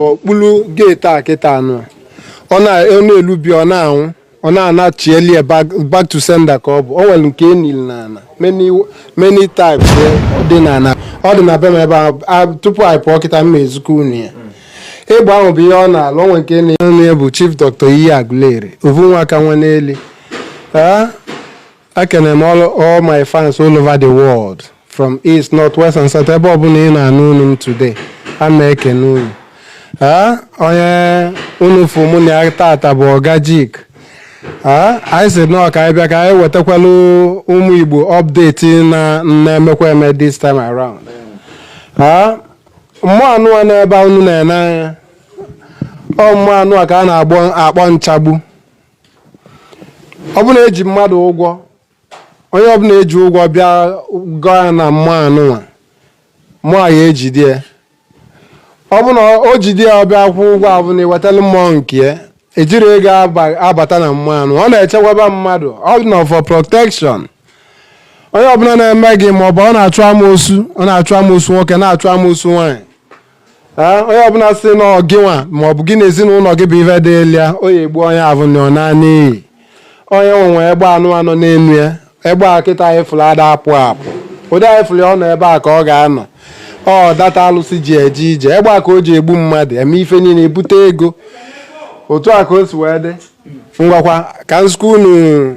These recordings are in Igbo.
okpulu gate a kịta anụ ọ na-elubi ọ na-anwụ ọ na-anachieli ya back to sender ka ọ bụ o nwere nke enili n'ala many types dị n'ala ọ dị na be m ebe a tupu anyị pụọ kịta m ezikọ unu ya ịgba ahụ bụ ihe ọ na-alụ onwe nke na-enye bụ Chief Doctor Iyi Agụleri ovu nwa aka nwa n'eli Ekene m all, all my fans all over the world from east, north, west and south ebe ọbụla ị na-anụ onu m today a na-ekene unu Ah, onye unu fụ mụ na ya tata bụ ọga jik Ah, anyị si nọọ ka anyị bịa ka anyị wetakwalụ ụmụ Igbo update na na-emekwa eme this time around Ah, mmụọ anụnwa n'ebe unu na-ene anya ọ mmụọ anụnwa ka a na-akpọ nchagbu ọ bụ na eji mmadụ ụgwọ onye ọbụla eji ụgwọ bịa gọọ ya na mmụọ anụnwa mmụọ a ya-ejide ya ọ bụ na o jide ya ọ bịa kwụọ ụgwọ ọ bụ na i wetala mmụọ nke ya ejiri ego aba- abata na mmụọ anụnwa ọ na-echekwaba mmadụ ọ dị na for protection onye ọbụla na-eme gị ma ọ bụ ọ na-achụ amoosu ọ na-achụ amoosu nwoke na-achụ amoosu nwaanyị Ee, onye ọbụla si na ọ gịnwa ma ọ bụ gị na ezinụlọ gị bụ ife dịlụ ya ọ ya-egbu onye ahụ na ọ naanị iyi onye nwe nwe egbe anụnwa nọ n'enu ya egbe a kịta anyị fụrụ ada apụ apụ ụdị anyị fụrụ ya ọ nọ ebe a ka ọ ga-anọ ọ data alụsị ji eje ije egbe a ka o ji egbu mmadụ eme ife niile ebute ego otu a ka o si wee dị ngwakwa ka m zikọ unu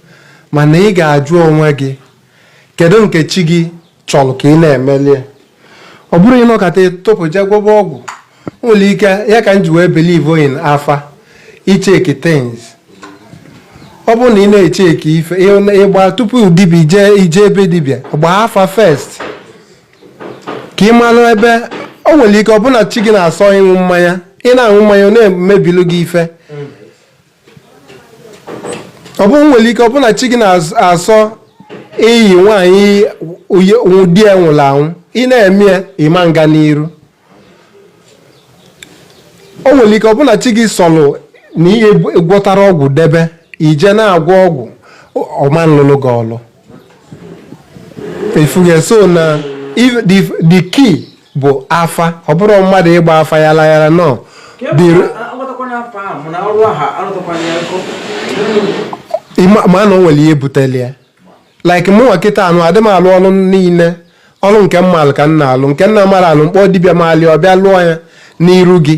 mana ị ga-ajụ onwe gị kedu nke chi gị chọrọ ka ị na-emeli ya ọ bụrọ ịnọkata ịtụpụ je gwọba ọgwụ nwere ike ya ka m ji wee believe in afa icheki things ọ bụrụ na ị na-echeki ife ịgba tupu dibi- i je ebe dibịa gbaa afa first ka ị malụ ebe o nwere ike ọ bụ na chi gị na-asọ ịṅụ mmanya ị na-aṅụ mmanya ọ na-emebilu gị ife ọ bụ nwere ike ọ bụ na chi gị na-asọ iyi nwaanyị di ya nwụrụ anwụ ị na-eme ya ị ma nga n'iru o nwere ike ọ bụ na chi gị sọlụ na i je gwọtara ọgwụ debe i je na-agwọ ọgwụ ọ ma nlụlụ gị ọlụ ị fụgo so na if- the the key bụ afa ọ bụrụ mmadụ ịgba afa ya layara nọ The- ịma- ma na o nwere ihe buteli ya like mụnwa kịta nụ adị m alụ ọlụ niile ọlụ nke m malụ ka m na-alụ nke m na-amarọ alụ m kpọọ dibịa malị ọ bịa lụọ ya n'iru gị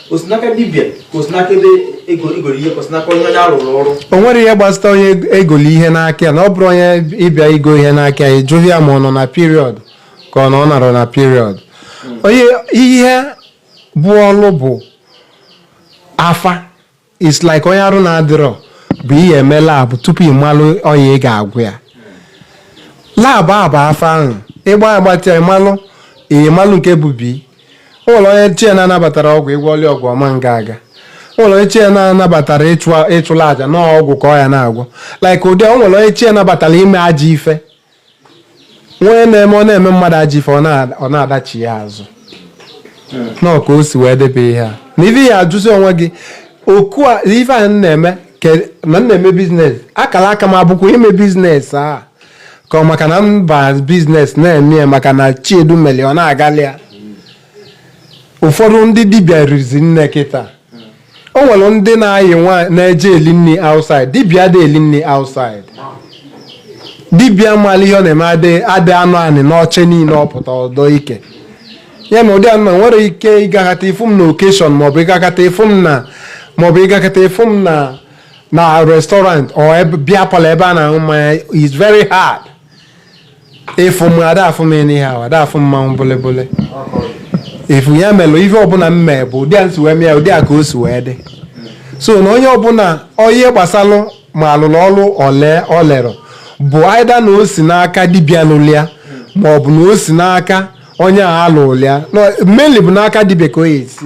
o si n'aka dibịa ka o si n'aka ebe e goro ihe ka o si n'aka onye onye a rụrụ ọrụ o nwere ihe gbasata onye e goli ihe n'aka ya na ọ bụrụ onye ị bịa igo ihe n'aka ya ịjụghị ya ma ọ nọ na period ka ọ na ọ nọrọ na period onye ihe bụ ọlụ bụ afa it's like onye arụ na-adịrọ bụ ihe eme labụ tupu ị malụ ọya ị ga-agwọ ya labụ a bụ afa ahụ ị gba agbachaa ịmalụ ịmalụ nke bụ bi o nwelụ onye chi e na-anabatara ọgwụ ị gwọọli ọgwụ ọ ma nga aga o nwelụ onye chi e na-anabatara ịchụla aja na ọgwụ ka ọ ya na-agwọ like ụdị o nwere onye chi e nabatara ime ajọ ife wee na-eme ọ na-eme mmadụ ajọ ife ọ na-adachi ya azụ na ka o si wee debe ihe a na ife ya ajụzi onwe gị ọkwa ife a na-eme na m na-eme business akara aka m ọ bụkwa ime business a ka ọ maka na mba business na-eme ya maka na Chiedu meli ya ọ na-agali ya ụfọdụ ndị dibịa rizi nne kịta o nwere ndị na anyị nwa na-eje eli nri outside dibịa adị eli nri outside dibịa mara ihe ọ na-eme adị adị anọ anị n'oche niile ọ pụta ọ dọ ike ya na ụdị a na o nwere ike ị gakata ị fụ m na occasion maọbụ ị gakata ị fụ m na maọbụ ị gakata ị fụ m na na restaurant or ebe- beer parlour ebe a na-aṅụ mmanya is very hard ịfụ m a da afụ m ihe ahụ a da afụ mmanwụ bụlịbụlị efu ya melụ ife ọbụla m mee bụ ụdị a m si wee mee ụdị a ka o si wee dị so na onye ọbụla onye gbasalụ m a lụrụ ọrụ o lerọ bụ either na o si n'aka dibịa lụlị ya ma ọ bụ na o si n'aka onye a lụlị ya mainly bụ n'aka dibịa ka ọ ya-esi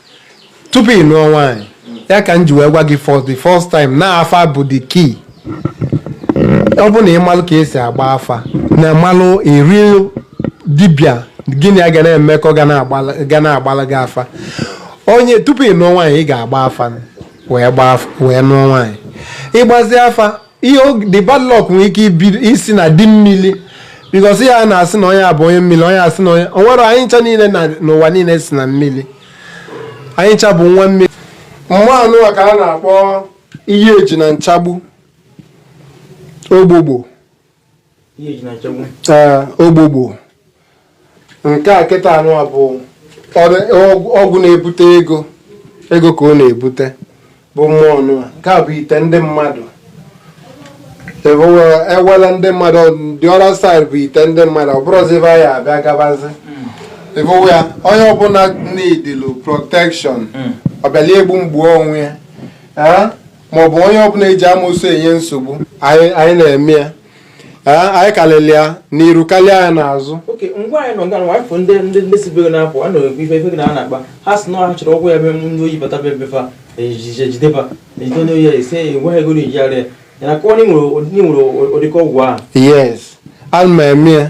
tupu ị nụọ nwaanyị ya ka m ji wee gwa gị for the first time na afa bụ the key ọ bụ na ị malụ ka e si agba afa na malụ a real dibịa gị na ya ga na-emekọ ga na-agbala gị afa onye tupu ị nụọ nwaanyị ị ga-agba afa wee nụọ nwaanyị ị gbazi afa ihe the bad luck nwere ike isi na di mmiri because ihe a na-asị na onye a bụ onye mmiri onye a sị na onye o nwere anyị ncha niile na n'ụwa niile si na mmiri anyị ncha bụ nwa mmiri mmụọ a nụwa ka a na-akpọ ihe eji na nchagbu ogbogbo ee ogbogbo nke a kịta nụa bụ ọgwụ na-ebute ego ego ka ọ na-ebute bụ mmụọ nụa nke a bụ ite ndị mmadụ ewela ndị mmadụ the other side bụ ite ndị mmadụ ọ bụrụzi ebe anyị abịa gabazi ịbụwa ya onye ọbụla needịlụ protection ọ bịala egbu m gbuo onwe ya maọbụ onye ọbụla eji amoosu enye nsogbu anyị anyị na-eme ya Ee, anyị kalịlị ya n'iru karịa ya n'azụ okay ngwa anyị nọ nga nwa afọ ndị ndị ndị sibere na-apụ a na-ekwu ife ife gị na a na-akpa ha si na ha chọrọ ọgwụ ya be ndị oyi bata be be fa ejije jideba ejide onye oyi ya esi ya ngwa ego na ejigharị ya ya na kọọ na ị nwere ụdị- na ị nwere ụdịka ọgwụ ahụ yes ana m eme ya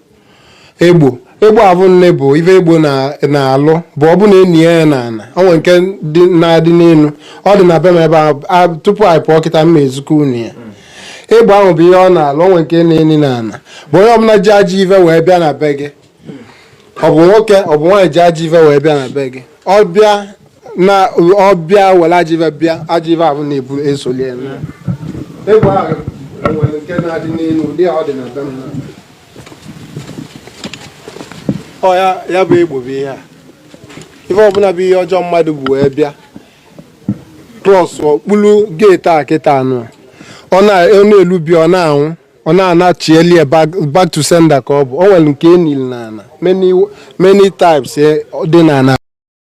egbo egbo ahụ nne bụ ife egbo na- na-alụ bụ ọ bụ na e nie ya ya na ana ọ nwere nke dị na-adị n'elu ọ dị na be m ebe a a- tupu anyị pụọ kịta m ma-ezikọ unu ya egbo ahụ bụ ihe ọ na-alụ ọ nwere nke a na-eni na ana bụ onye ọbụla ji ajọ ife wee bịa na be gị ọ bụ nwoke ọ bụ nwaanyị ji ajọ ife wee bịa na be gị ọ bịa na ọ bịa were ajọ ife bịa ajọ ife ahụ na-ebu esoli ya na egbo ahụ nwere nke na-adị n'elu ụdị a ọ dị na be m ọ ya ya bụ egbo bụ ihe a ife ọbụla bụ ihe ọjọọ mmadụ bu wee bịa cross okpuru gate a kịta anụ ọ na- ọ na-elubi ọ na-anwụ ọ na-anachi eli ya back to sender ka ọ bụ o nwere nke e nili na ana many types eh, dị na ana